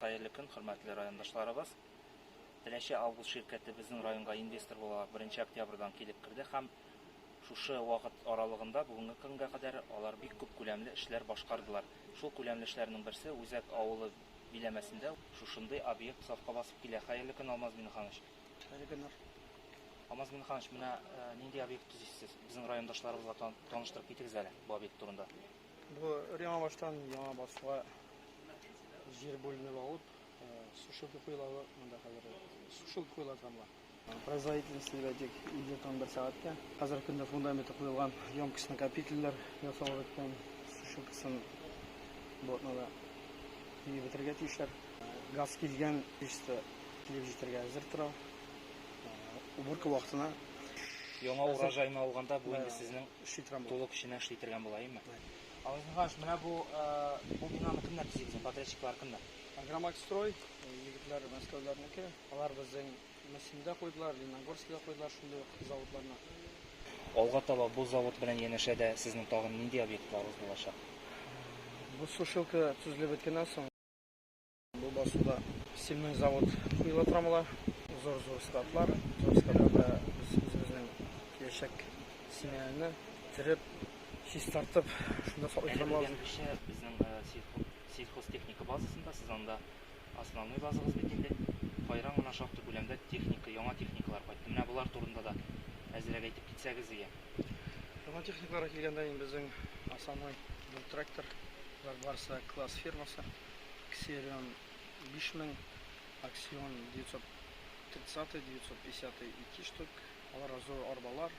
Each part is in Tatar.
Хәерле көн, хөрмәтле райондашларыбыз! Теләче Август ширкәте безнең районга инвестор буларак беренче октябрьдан килеп керде һәм шушы вакыт аралыгында бүгенге көнгә кадәр алар бик күп күләмле эшләр башкардылар. Шул күләмле эшләрнең берсе Үзәк авылы биләмәсендә шушындый объект сафка басып килә. Хәерле көн, Алмаз Миңнеханович! Хәерле көннәр! Алмаз Миңнеханович, менә нинди объект төзисез? Безнең райондашларыбызга таныштырып китегез әле бу объект турында. Бу яңа баштан яңа басуга җир бүленеп алып, сушилка куелавы монда хәзер сушилка куела тамга. Производительность дибәдик, инде там бер сәгатькә. Хәзер көндә фундаменты куелган, емкость накопительләр ясалып беткән, сушилкасын блокнода килеп бетергә тиешләр. Газ килгән чисто килеп җитәргә әзер тора. Уборка вакытына. Яңа урожайны алганда бу инде сезнең Шитрам бу. Тулы көченә эшли тергән була, әйеме? Бай. Александр Михайлович, менә бу, бу бинаны кемнәр төзи безнең, подрядчиклар кемнәр? Агромакстрой, егетләр мәскәүләрнеке. Алар безнең Мөслимдә куйдылар, Лениногорскида куйдылар шундый ук заводларны. Алга таба бу завод белән янәшә дә сезнең тагын нинди объектларыгыз булачак? Бу сушилка төзелеп беткәннән соң. Бу басуда сильный завод куела трамала, зор-зор складлар, зор складларда без үзебезнең киләчәк семьяны тереп, чистартып, шунда саклый трамала. Безнең сельхозтехника базасында, сез анда основной базагыз бит инде. Кайран гына шактый күләмдә техника, яңа техникалар кайтты. Менә болар турында да әзрәк әйтеп китсәгез ия. Яңа техникаларга килгәндә, безнең основной бу трактор, барсы класс фирмасы. Ксерион, 5000, Аксион, 930, 950 ике штук, аларга зур арбалар,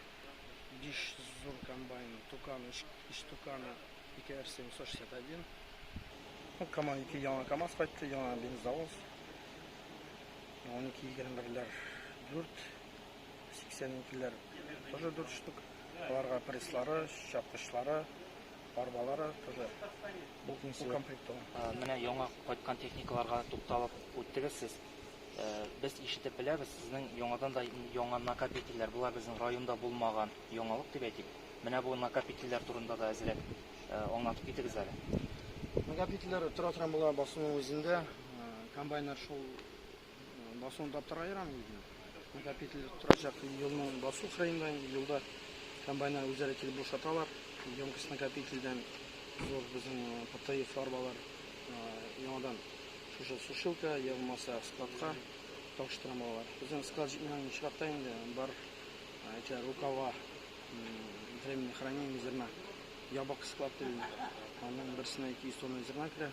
биш зур комбайн, Тукан, өч өч Туканы, ике РС 761, ну, КАМА, ике яңа КАМАЗ кайтты, яңа бензовоз, унике егерме берләр, дүрт сиксән икеләр, тоже дүрт штук, аларга пресслары, чапкычлары, Арбалары кызы. Бу комплектуга. Менә яңа кайткан техникаларга тукталып үттегез сез. Без ишетеп беләбез, сезнең яңадан да яңа накопительләр, болар безнең районда булмаган яңалык дип әйтик. Менә бу накопительләр турында да әзрәк аңлатып китегез әле. Накопительләр тора торган була, басуның үзендә комбайннар шул Басуында тора ярамы үзенә? Накопитель торачак елны басу кырыенда, елда комбайннар үзләре килеп бушаталар. Емкость накопительдән зур безнең ПТФ арбалар яңадан шушы сушилка, я булмаса складка тапшырам алар. Безнең склад җитмәгән очракта инде бар эти рукава временное хранение зерна. Ябык склад дигән. Аның берсенә 200 тонна зерна керә.